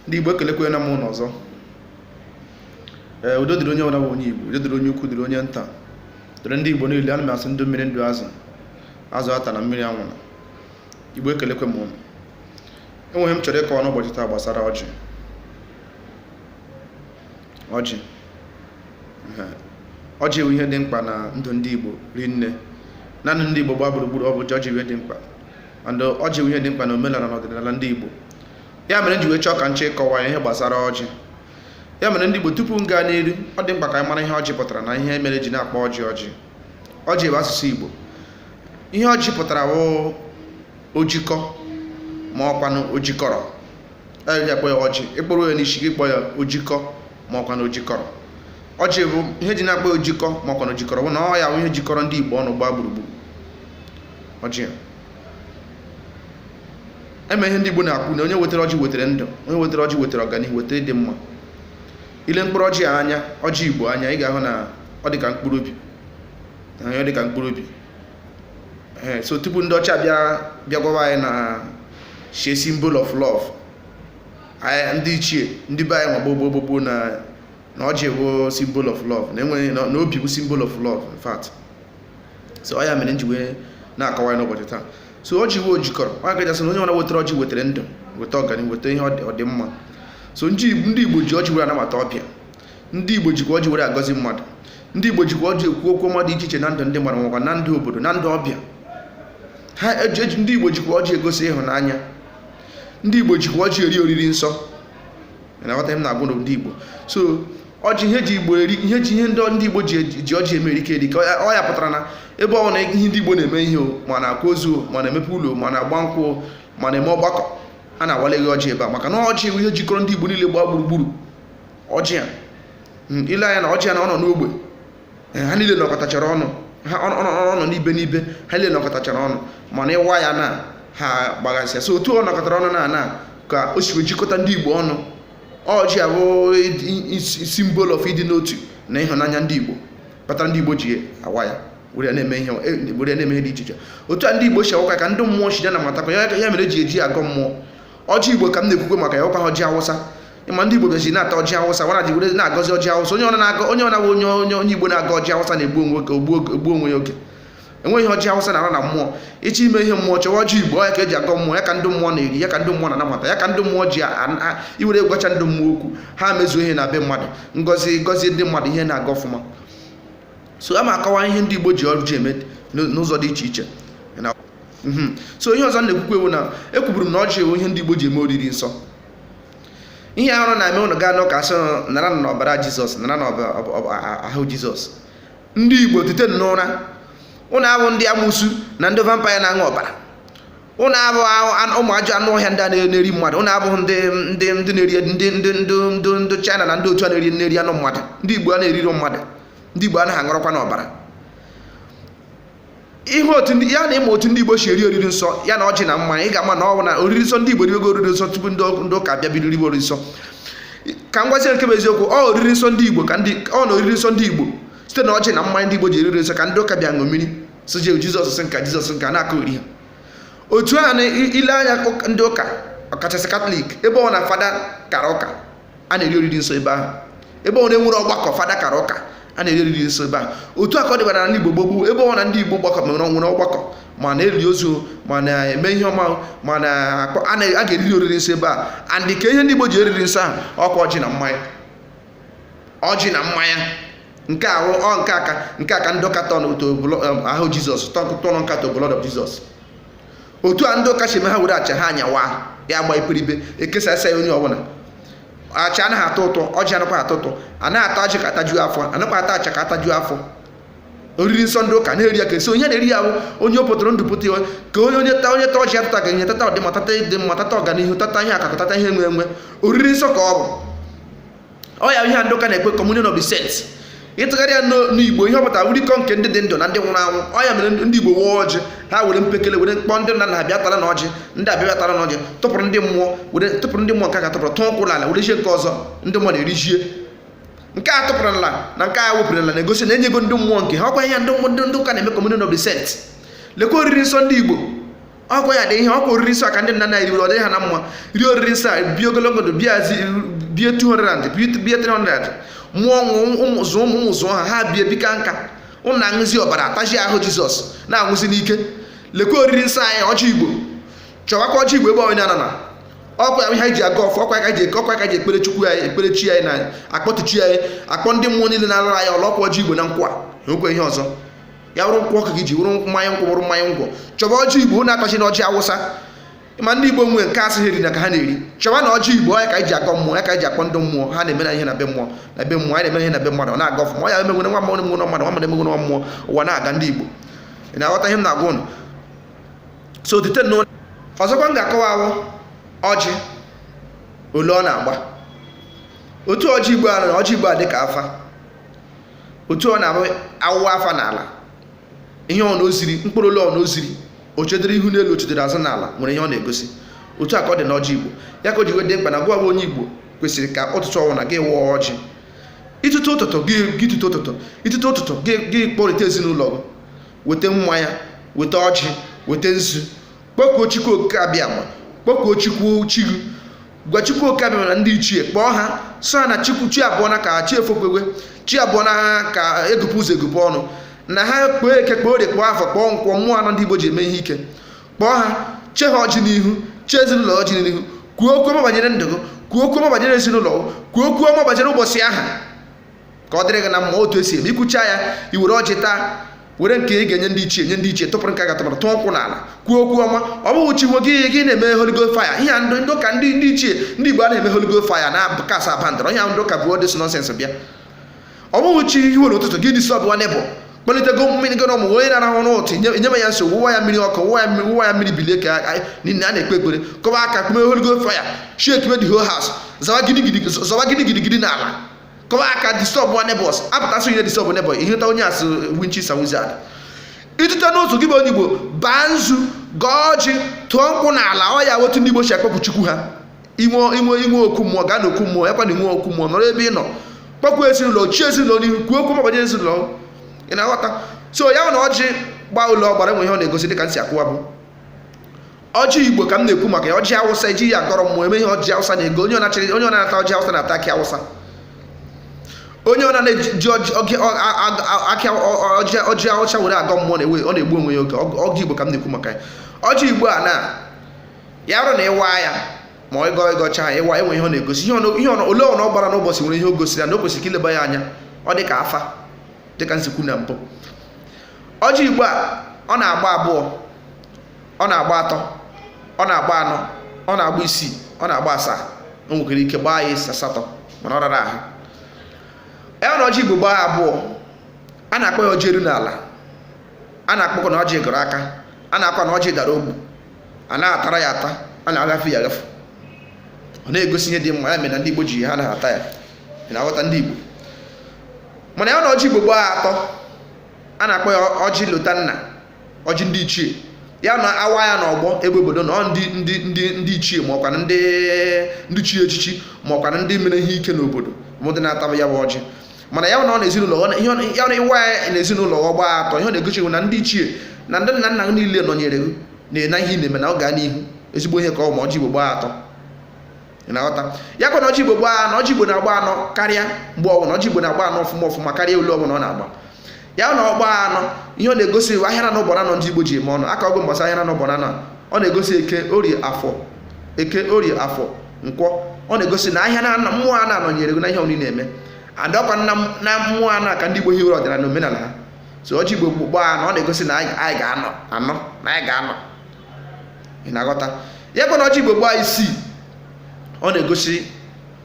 ndị Igbo ekelekwe na m ụnụ ọzọ ee udo dịrị onye ọbụla bụ onye Igbo udo dịrị onye ukwu dịrị onye nta dịrị ndị Igbo niile ana m asị ndụ mmiri ndụ azụ azụ atana mmiri anwụna Igbo ekelekwe m ụnụ enwere ihe m chọrọ ịkọwa n'ụbọchị taa gbasara ọjị ọjị ọjị bụ ihe dị mkpa na ndụ ndị Igbo rinne na ndụ ndị Igbo gbaa gburugburu ọ bụ ọjị bụ ihe dị mkpa and ọjị bụ ihe dị mkpa na omenala na ọdịnala ndị Igbo ya mere nji wee chọọ ka nche ịkọwa ihe gbasara ọjị ya mere ndị Igbo tupu m gaa n'iru ọ dị mkpa ka anyị mara ihe ọjị pụtara na ihe mere eji na-akpọ ọjị ọjị ọjị bụ asụsụ Igbo ihe ọjị pụtara bụ ojikọ ma ọkwanụ ojikọrọ eji akpọ ya ọjị ị kpọruo ya n'isi gị kpọọ ya ojikọ ma ọkwanụ ojikọrọ ọjị bụ ihe eji na-akpọ ojikọ ma ọkwanụ ojikọrọ bụ na ọ ya bụ ihe jikọrọ ndị Igbo ọnụ gbaa gburugburu ọjị eme ihe ndị Igbo na-ekwu na onye wetara ọjị wetara ndụ onye wetara ọjị wetara ọganihu wetara ịdị mma i lee mkpụrụ ọjị anya ọjị Igbo anya ị ga-ahụ na ọ dị ka mkpụrụ obi ọ dị ka mkpụrụ obi ee so tupu ndị ọcha bịa bịa gwawa anyị na shie symbol of love anyị ndị ichie ndị be anyị ma gboo gboo gboo na na ọjị bụ symbol of love na enweghị na obi bụ symbol of love in fact so ọ ya mere nji wee na-akọwa ya n'ụbọchị taa so ọjị bụ ojikọrọ ọ ka eji asị na onye ọbụla wetara ọjị wetara ndụ weta ọganihu weta ihe ọdịmma so ndị igbo ji ọjị were anabata ọbịa ndị igbo jikwa ọjị were agọzi mmadụ ndị igbo jikwa ọjị ekwu okwu ọma dị iche iche na ndụ ndị mmadụ makwa na ndụ obodo na ndụ ọbịa ha eji ndị igbo jikwa ọjị egosi ịhụnanya ndị igbo jikwa ọjị eri oriri nsọ na-aghọta ihe m na-ekwu ndị igbo so ọjị ihe ji igbo eri ihe ji ihe ndị ndị igbo ji eji- ji ọjị eme erike erike Ọ ya- ọ ya pụtara na ebe ọbụla ihe ndị igbo na-eme ihe o ma na-akwa ozu o ma na-emepe ụlọ o ma na-agba nkwụ o ma na-eme ọgbakọ a na-awarịrị ọjị ebe a maka na ọjị bụ ihe jikọrọ ndị igbo niile gbaa gburugburu ọjị a Mm, i lee anya na ọjị a na ọ nọ n'ogbe Eh, ha niile nọkọtachara ọnụ ha ọ nọ- ọ nọ n'ibe n'ibe ha niile nọkọtachara ọnụ mana ị waa ya na ha gbagasịa so otu ọ nọkọtara ọnụ na na ka o si wee jikọta ndị igbo ọnụ ọjị a bụ symbol of ịdị n'otu na ịhụnanya ndị Igbo kpatara ndị Igbo ji awa ya were na-eme ihe were na-eme ihe dị iche iche otu a ndị Igbo si awa ya ka ndị mmụọ si ya na-atakwa ya ya mere eji eji agọ mmụọ ọjị Igbo ka m na-ekwukwe maka ya ọkwaghị ọjị Awụsa ị ma ndị Igbo bịazi na-ata ọjị Awụsa wara ji were na-agọzi ọjị Awụsa onye ọbụla bụ onye Igbo na-agọ ọjị Awụsa na-egbu onwe oge ogbu onwe ya oge enweghị ọjị awụsa na-ara na mmụọ ị chọọ ime ihe mmụọ chọwa ọjị igbo ya ka eji agọ mmụọ ya ka ndị mmụọ na-eri ya ka ndị mmụọ na-anabata ya ka ndị mmụọ ji iwere gwacha ndị mmụọ okwu ha mezuo ihe na be mmadụ ngozi gọzie ndị mmadụ ihe na-aga ọfụma so a ma akọwa ihe ndị igbo ji ọjị eme n'ụzọ dị iche iche mhm. so ihe ọzọ na-ekwukwe wụ na ekwuburu m na ọjị wụ ihe ndị igbo ji eme oriri nsọ ihe ahụ na-eme ụnụ gaa n'ụka a sị naranụ ọbara jizọs naranụ ahụ jizọs ndị igbo tete n'ụra ụnụ abụ ndị amụsu na ndị vampire na-aṅụ ọbara ụnụ abụ ụmụ ajọ anụ ọhịa ndị a na-eri mmadụ ụnụ abụ ndị ndị ndị na-eri ndị ndị ndị ndị ndị china na ndị otu a na-eri na-eri anụ mmadụ ndị igbo a na-eriri mmadụ ndị igbo anaghị aṅụrọkwanụ ọbara ihe otu ya na ị ma otu ndị Igbo si eri oriri nsọ ya na ọjị na mmanya ị ga-ama na ọ bụ na oriri nsọ ndị Igbo riwego oriri nsọ tupu ndị ụka bịa bido riwe oriri nsọ ka m gwazie nke bụ eziokwu ọ oriri nsọ ndị Igbo ka ndị ọ na oriri nsọ ndị Igbo site na ọjị na mmanya ndị Igbo ji eri oriri nsọ ka ndị ụka bịa ṅomiri so jee Jizọs nke a Jizọs nke a na-akụziri ha otu a na i lee anya ndị ụka ọkachasị katọlik ebe ọwụna fada kara ụka a na-eri oriri nsọ ebe ahụ ebe ọwụna e nwere ọgbakọ fada kara ụka a na-eri oriri nsọ ebe ahụ otu a ka ọ dịbara na Igbo gboo gboo ebe ọwụna ndị Igbo gbakọ nwere ọgbakọ ma na-eli ozu ma na-eme ihe ọma ma na a ga-eriri oriri nsọ ebe a and kee ihe ndị Igbo ji eri oriri nsọ ahụ ọkwa ọjị na mmanya ọjị na mmanya nke ahụ ọ nke a ka nke a ka ndị ụka turn to ahụ Jizọs turn nke a to blood of Jesus otu a ndị ụka si eme ha were achịcha ha anyawa ya gba iperibe ekesasịa ya onye ọbụla achịcha anaghị atọ ụtọ ọjị anakwa atọ ụtọ anaghị ata ọjị ka a tajuo afọ anakwa ata achịcha ka a tajuo afọ oriri nsọ ndị ụka na-eri ya ka a sị onye na-eri ya bụ onye o pụtara ndụ pụta ya ka onye onye ta onye ta ọjị atata ga enye tata ọdịmma tata ịdị mma tata ọganihu tata ihe akụ akụ tata ihe enwe enwe oriri nsọ ka ọ bụ ọ ya ihe a ndị ụka na-akpọ communion of the saints ị tụgharịa ya n'igbo ihe ọ pụtara wụ orikọ nke ndị dị ndụ na ndị nwụrụ anwụ ọ ya mere ndị igbo waa ọjị ha were mpekele were kpọọ ndị nna nna bịa taranụ ọjị ndị a bịa taranụ ọjị tụpụrụ ndị mmụọ were tụpụrụ ndị mmụọ nke aka tụpụrụ tụọ nkwụ n'ala were ihe nke ọzọ ndị mmụọ na-erijie nke a tụpụrụ n'ala na nke a wụpụrụ n'ala na-egosi na e nyego ndị mmụọ nke ha ọkwa ihe ndị ndị ụka na-eme communion of the saints lekwa oriri nsọ ndị igbo ọkwa ya dị ihe ọkwa oriri nsọ ka ndị nna nna riwere ọ dịrị ha na mma rie oriri nsọ a bie ogologo ndụ bie azi bie 200 bie bie 300 mụọ ụmụ ụmụ zụọ ụmụ ụmụ zụọ ha ha bie bikaa nka ụnụ na-aṅụzi ọbara atazi ahụ jizọs na-anwụzi n'ike lekwa oriri nsọ anyị ọjị igbo chọwakwa ọjị igbo ebe onye anana ọkwa ya ihe anyị ji agọ ọfọ ọkwa ya ka anyị ji eke ọkwa ya ka anyị ji ekpere chukwu anyị ekpere chi anyị na-akpọtụ chi anyị akpọ ndị mmụọ niile na-alụrụ anyị ọlụ ọkwa ọjị igbo na nkwụ o nwekwa ihe ọzọ ya wụrụ nkwụ ọka gị ji wụrụ mmanya nkwụ wụrụ mmanya ngwọ chọba ọjị igbo na atachi na ọjị awụsa ma ndị igbo nwee nke a sị ha erina ka ha na-eri chọba na ọjị igbo ya ka anyị ji agọ mmụọ ya ka anyị ji akpọ ndị mmụọ ha na-eme na ihe na be mmụọ na be mmụọ anyị na-eme ihe na be mmadụ ọ na-aga ọfụma ọ ya emegwere nwa mmadụ emegwere mmadụ nwa mmadụ emegwere nwa mmụọ ụwa na-aga ndị igbo ị na-aghọta ihe m na-agwa ụnụ so otu ihe ọzọkwa m ga-akọwa wụ ọjị ole ọ na-agba otu ọjị igbo a na ọjị igbo a dị ka afa otu ọ na-abụ a wụwa afa n'ala ihe ọ na oziri mkpụrụ ole ọ na oziri o chedere ihu n'elu o chedere azụ n'ala nwere ihe ọ na-egosi otu a ka ọ dị n'ọjị igbo ya ka o ji wee dị mkpa na gị wụ onye igbo kwesịrị ka ụtụtụ ọwụna gị gọọ ọjị i tete ụtụtụ gị gị tete ụtụtụ i tete ụtụtụ gị gị kpọrịta ezinụlọ gị weta mmanya weta ọjị weta nzu kpọkuo chukwu okike abịama kpọkuo chukwu chi gị gwa chukwu oke abịama na ndị ichie kpọọ ha sị ha na chukwu chi abọọna ka chi efokwewe chi abọọna ka egụpụ ụzọ egụpụ ọnụ na ha kpọọ eke kpọọ orie kpọọ afọ kpọọ nkwọ mmụọ anọ ndị igbo ji eme ihe ike kpọọ ha chee ha ọjị n'ihu chee ezinụlọ ọjị n'ihu kwuo okwu ọma banyere ndụ gị kwuo okwu ọma banyere ezinụlọ gị kwuo okwu ọma banyere ụbọchị ahụ ka ọ dịrị gị na mma otu esi eme i kwucha ya i were ọjị taa were nke ị ga-enye ndị ichie nye ndị ichie tụpụrụ nke a ga-atụ n'ala tụọ nkwụ n'ala kwuo okwu ọma ọ bụghị chi nwe gị ihe gị na-eme holy ghost fire ihe a ndị ndị ụka ndị ndị ichie ndị igbo a na-eme holy ghost fire na kasa bandara ihe ahụ ndị ụka bụ all this nonsense bịa ọ bụghị chi fo n'ụtụtụ gị disturbwa neighbour kpalitego mmiri gị n'ọmụ onye na-arahụ n'ụtụtụ nye nye ya nsogbu wụwa ya mmiri ọkụ wụwa ya mmiri wụwa ya mmiri bilie ka a- niile a na-ekpe ekpere kụba aka kpume holy ghost fire shake the whole house zọwa gidigidi zọwa gidigidi n'ala kụwa aka disturbwa neighbours apụtasị ihe disturb neighbour iheta onye a sị witches and wizard i tete n'ụtụtụ gị bụ onye igbo baa nzu gọọ ọjị tụọ nkwụ n'ala ọ ya otu ndị igbo si akpọku chukwu ha i nwee i nwee i nwee okwu mmụọ gaa n'okwu mmụọ ya kwana inwe okwu mmụọ nọrọ ebe ị nọ kpọkuo ezinụlọ chee ezinụlọ n'ihu kwuo okwu ọma banyere ezinụlọ ị na-aghọta so ya na ọjị gbaa ole ọ gbara e nwere ihe ọ na-egosi dịka m si akọwa bụ ọjị igbo ka m na-ekwu maka ya ọjị awụsa eji ya agọrọ mmụọ emeghị ọjị awụsa na ego onye ọnachịrị onye ọ na-ata ọjị awụsa na-ata akị awụsa onye ọna na-eji ọjị awụsa were agọ mmụọ na-ewe ọ na-egbu onwe ya oge ọjị igbo ka m na-ekwu maka ya ọjị igbo a na ya bụrụ na ị waa ya ma ọ ịgọ ị gọcha ya ị waa e nwere ihe ọ na-egosi ihe ole ọ na ọ gbara n'ụbọchị nwere ihe o gosiri ya na o kwesịrị ka i leba ya anya ọ dị ka afa dị ka m si kwuo na mbụ ọjị igbo a ọ na-agba abụọ ọ na-agba atọ ọ na-agba anọ ọ na-agba isii ọ na-agba asaa o nwekwara ike gbaa ya asatọ mana ọ rara ahụ ya na ọjị igbo gbaa abụọ a na-akpọ ya ọjị eru n'ala a na-akpọkọ na ọjị gọrọ aka a na-akwa na ọjị dara ogbu a na-atara ya ata a na-agafe ya agafe ọ na-egosi ihe dị mma ya mere na ndị igbo ji ha na-ata ya ị na-aghọta ndị igbo mana ya na ọjị igbo gbaa atọ a na-akpọ ya ọjị lotanna ọjị ndị ichie ya na a waa ya na ọgbọ ebe obodo nọ ndị ndị ndị ndị ichie ma ọkwa ndị ndị chi echichi ma ọkwa ndị mere ihe ike n'obodo bụ ndị na-ataba ya bụ ọjị mana ya na ọ na ezinụlọ ọ na- ihe ọ- ya na ị waa ya na ezinụlọ ọ gbaa atọ ihe ọ na-egosi bụ na ndị ichie na ndị nna nna gị niile nọnyere gị na-ena ihe ị na-eme na ọ gaa n'ihu ezigbo ihe ka ọ bụ ma ọjị igbo gbaa atọ na-aghọta ya kwa na ọjị igbo gbaa anọ ọjị igbo na-agba anọ karịa mgbe ọbụla ọjị igbo na-agba anọ ọfụma ọfụma karịa olu ọbụla ọ na-agba ya na ọ gbaa anọ ihe ọ na-egosi wụ ahịa na ụbọra nọ ndị igbo ji eme ọnụ aka ọgụ mbọsị ahịa na ụbọra nọ ọ na-egosi eke orie afọ eke orie afọ nkwọ ọ na-egosi na ahịa na mmụọ a na-anọnyere gị na ihe ọ na ị na-eme adọkwa na mmụọ anọ ka ndị igbo hiwere ọdịnala omenala ha so ọjị igbo gbaa anọ ọ na-egosi na anyị ga-anọ anọ na anyị ga-anọ ị na-aghọta ya kwa na ọjị igbo gbaa isii ọ na-egosi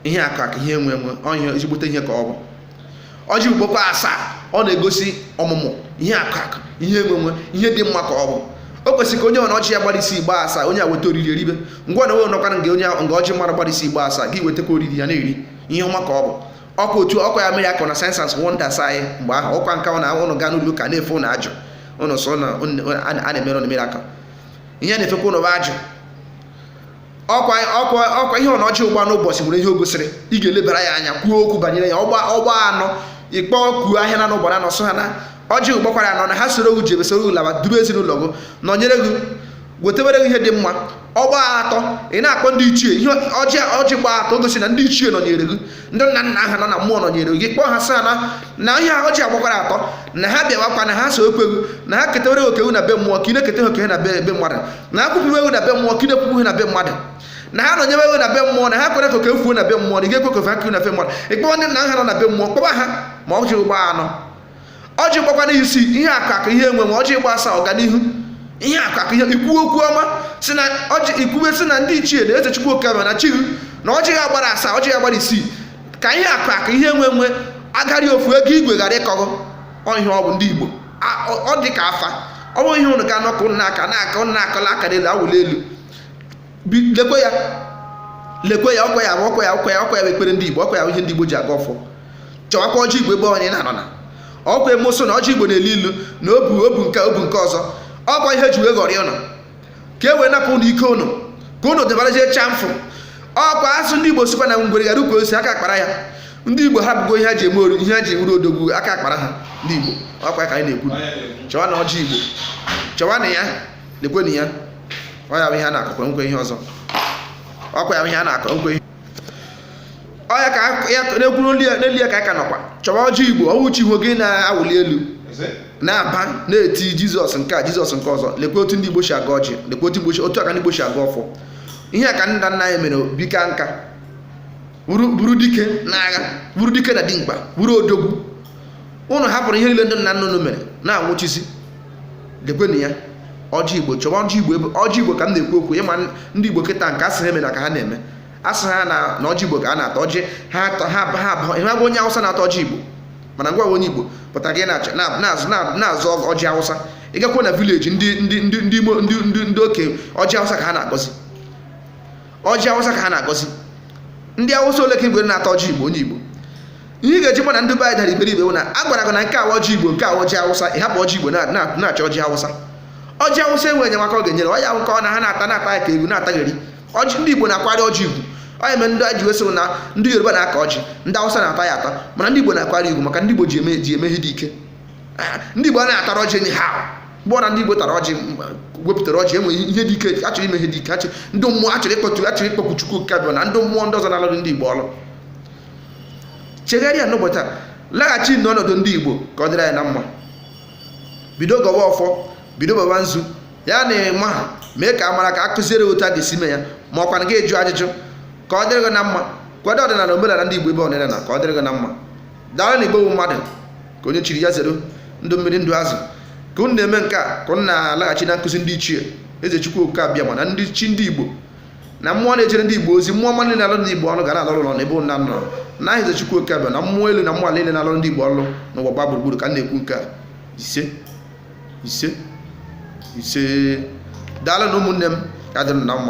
ihe akụ akụ ihe enwe enwe ihe ezigbote ihe ka ọ bụ ọjị igbo gbaa asaa ọ na-egosi ọmụmụ ihe akụ akụ ihe enwe enwe ihe dị mma ka ọ bụ o kwesịrị ka onye ọ na ọjị ya gbara isii gbaa asaa onye a weta oriri eribe ngwa na onwe nọkwara nke onye nga ọjị mara gbara isii gbaa asaa gị wetakwa oriri a na-eri ihe ọma ka ọ bụ ọkwa otu ọkwa ya miracle na signs and wonders anyị mgbe ahụ ọkwa nka na ụnụ gaa n'ụlọ ụka na-efe ụnụ ajụ ụnụ sị na a na-emere ụnụ miracle ihe na-efekwa ụnụ bụ ajụ ọkwa ọkwa ọkwa ihe ọ na ọjị gba n'ụbọchị nwere ihe o gosiri ị ga-elebara ya anya kwuo okwu banyere ya ọ gbaa ọ gbaa anọ ị kpọkuo ahịa na n'ụbọrọ anọ sị ha na ọjị gbakwara anọ na ha soro gị jebe soro gị laba duru ezinụlọ gị nọnyere gị wetewere gị ihe dị mma ọ gbaa atọ ị na-akpọ ndị ichie ihe ọjị ọjị gba atọ gosi na ndị ichie nọnyere gị ndị nna nna ha nọ na mmụọ nọnyere gị kpọọ ha sị ha na na ihe ọjị a gbakwara atọ na ha bịawakwa na ha sowekwa gị na ha ketewere oke gị na be mmụọ ka ị na-ekete oke na be be mmadụ na ha kwupụrụ gị na be mmụọ ka ị na-ekwupụ ihe na be mmadụ na ha nọnyewe gị na be mmụọ na ha kwere ka oke fuo na be mmụọ na ị ga-ekwe ka o fuekwa na be mmadụ ị kpọọ ndị nna ha nọ na be mmụọ kpọba ha ma ọjị gbaa anọ ọjị gbakwanụ isii ihe akụ akụ ihe enwe enwe ọjị gbaa asaa ọganihu ihe akụ akụ ihe ị kwube okwu ọma sị na ọjị ị kwube sị na ndị ichie na eze chukwu okike na chi gị na ọjị ya gbara asaa ọjị ya gbara isii ka ihe akụ akụ ihe enwe enwe agari ofu ego igwe ghara ịkọ gị ọ ihe ọ bụ ndị igbo ọ dị ka afa ọ bụ ihe ụnụ ga-anọ ka ụnụ na-aka na-aka ụnụ na-akọla aka n'elu awụli elu lekwe ya lekwe ya ọkwa ya ọkwa ya ọkwa ya ọkwa ya ekpere ndị Igbo ọkwa ya ihe ndị Igbo ji agọ ọfọ chọwakwa ọjị Igbo ebe onye na-anọ na ọkwa emoso na ọjị Igbo na-elu ilu na ọ bụ ọ bụ nke ọ bụ nke ọzọ ọkwa ihe e ji wee ghọrịa ụnụ ka e wee napụ ụnụ ike ụnụ ka ụnụ debarazie chamfụ ọkwa asụ ndị Igbo sikwa na ngwere ghara ukwu osisi aka akpara ya ndị igbo hapụgo ihe ha ji eme ọrụ ihe ha ji ewuru odogwu aka akpara ha ndị igbo ọkwa ka anyị na-ekwu chọwanụ ọjị igbo chọwanụ ya lekwenụ ya ọ ya bụ ihe a na-akọkwa enweghị ihe ọzọ ọkwa ya bụ ihe a na-akọ enweghị ihe ọ ya ka ya na-ekwuru ndị ya- n'elu ya ka a ka nọkwa chọwa ọjị igbo ọ wụ chi efo gị na-awụli elu na-aba na-eti jizọs nke a jizọs nke ọzọ lekwa otu ndị igbo si agọ ọjị lekwa otu igbo si- otu aka ndị igbo si agọ ọfọ ihe a ka nna nna anyị mere bi kaa nka bụrụ bụrụ dike n'agha bụrụ dike na dimkpa bụrụ odogwu ụnụ hapụrụ ihe niile ndị nna nna unu mere na-anwụchisi lekwenu ya ọjị igbo chọwa ọjị igbo ebe ọjị igbo ka m na-ekwu okwu ịma ndị igbo kịta nke a sị ha emena ka ha na-eme a sị ha na na ọjị igbo ka a na-ata ọjị ha atọ ha ba- ha abụọ ị ma ahụ onye awụsa na-ata ọjị igbo mana ngị wa wụ onye igbo pụtara gị na-achọ na- na-azụ na- na-azụ ọjị awụsa ị gakwa na vileji ndị ndị ndị ndị imo ndị ndị ndị oke ọjị awụsa ka ha na-agọzi ọjị awụsa ka ha na-agọzi ndị awụsa ole ka ị hụrụ na-ata ọjị igbo onye igbo ihe ị ga-eji ma na ndị be anyị dara iberibe bụ na a gwara gị na nke a wụ ọjị igbo nke a wụ ọjị awụsa ị hapụ ọjị igbo na- na- na-achọ ọjị awụsa ọjị awụsa enweghị enyemaka ọ ga-enyere ọ ya bụ nke ọ na ha na-ata na-ata ya ka ewu na-atagheri ọjị ndị igbo na-akwanyere ọjị ugwu ọ ya mere ndị ji wee sịrị na ndị yoruba na-akọ ọjị ndị awụsa na-ata ya ata mana ndị igbo na-akwanyere ya ugwu maka ndị igbo ji eme ji eme ihe dị ike Ah, ndị igbo anaghị ata ọjị anyhow mgbe ọ bụla ndị Igbo tara ọjị wepụtara ọjị e nwere ihe dị ike a chọrọ ime ihe dị ike achị ndị mmụọ a chọrọ ịkpọtu a chọrọ ịkpọku Chukwu Okike abịama na ndị mmụọ ndị ọzọ na-alụrụ ndị Igbo ọrụ chegharịa n'ụbọchị taa laghachi n'ọnọdụ ndị Igbo ka ọ dịrị anyị na mma bido gọwa ọfọ bido baba nzu ya na ị maghị mee ka a mara ka a kụziere otu a ga-esi mee ya ma ọ kwanụ gị jụọ ajụjụ ka ọ dịrị gị na mma kwado ọdịnala omenala ndị Igbo ebe ọdịnala ka ọ dịrị gị na mma daalụnụ Igbo bụ mmadụ nke onye chiri ya zere ndụ mmiri ndụ azụ ka unu na-eme nke a ka unu na-alaghachi na nkụzi ndị ichie eze chukwu oke abịama na ndị chi ndị igbo na mmụọ na-ejere ndị igbo ozi mmụọ ọma niile na-alụ ndị igbo ọrụ ga na-alụ ọrụ na ebe unu nọ na aha eze chukwu oke abịama na mmụọ elu na mmụọ ala niile na-alụ ndị igbo ọrụ n'ụwa gbaa gburugburu ka m na-ekwu nke a ise ise ise daalụnụ ụmụnne m ya dịrị na mma